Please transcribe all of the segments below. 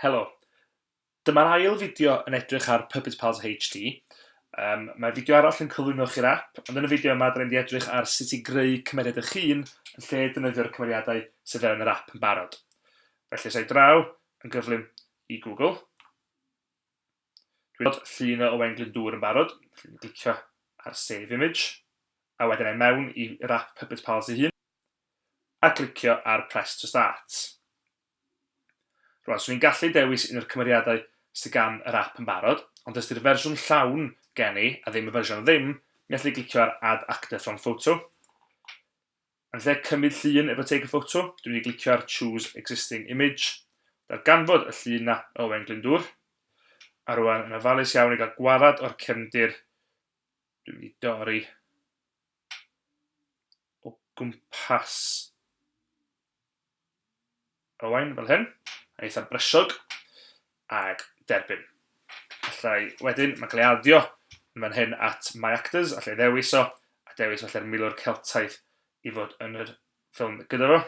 Helo. Dyma'r ail fideo yn edrych ar Puppet Pals HD. Um, mae fideo arall yn cyflwyno chi'r app, ond yn y fideo yma, dyn ni'n edrych ar sut i greu cymeriad eich hun yn lle defnyddio'r cymeriadau sydd fewn yr app yn barod. Felly, sa'i draw yn gyflym i Google. Dwi'n gweld llun o Owain Glyndŵr yn barod, felly clicio ar Save Image, a wedyn ai mewn i Wrap Puppet Pals ei hun, a clicio ar Press to Start. Rwan, swn i'n gallu dewis un o'r cymeriadau sydd gan yr app yn barod, ond os di'r fersiwn llawn gen i, a ddim y fersiwn ddim, mi allai glicio ar Add Actor from Photo, Yn lle cymryd llun efo Take a Photo, dwi'n mynd i glicio ar Choose Existing Image, darganfod y llun 'na o Owain Glyndŵr. A rwan yn ofalus iawn i gael gwared o'r cefndir, dwi'n mynd i dorri o gwmpas Owain fel hyn, yn eitha brysog, ac derbyn. Allai wedyn, mae'n cael ei addio yn fan hyn at My Actors, allai ddewis o, a dewis falle'r milwr Celtaidd i fod yn yr ffilm gyda fo.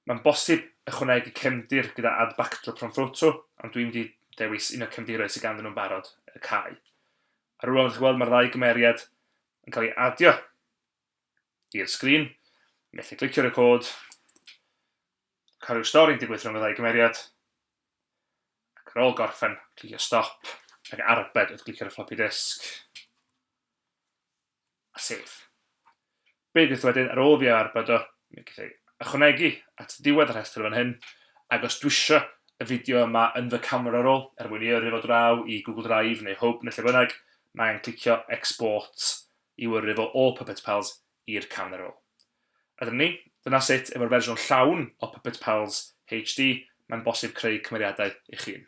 Mae'n bosib ychwanegu cefndir gyda Add Backdrop from Photo, ond dwi'n mynd i ddewis un o'r cefndiroedd sydd ganddyn nhw'n barod, y cae. A rwan, fel chi'n gweld, mae'r ddau gymeriad yn cael ei addio. i'r sgrin, methu clicio record, cario stori'n digwydd rhwng y ddau gymeriad, ac ar ôl gorffen, clicio stop, ac arbed wrth glicio'r floppy disk, a save. Be gwyth wedyn, ar ôl fi a arbed o, mi gwyth ei ychwanegu at ddiwedd y rhestr fan hyn, ac os dwisio y fideo yma yn fy camera roll, er mwyn i yrru fo draw i Google Drive neu Hwb neu lle bynnag, mae angen clicio export i'w yrru fo o Puppet Pals i'r camera roll. A dyna ni, dyna sut, efo'r fersiwn llawn o Puppet Pals HD, mae'n bosib creu cymeriadau eich hun.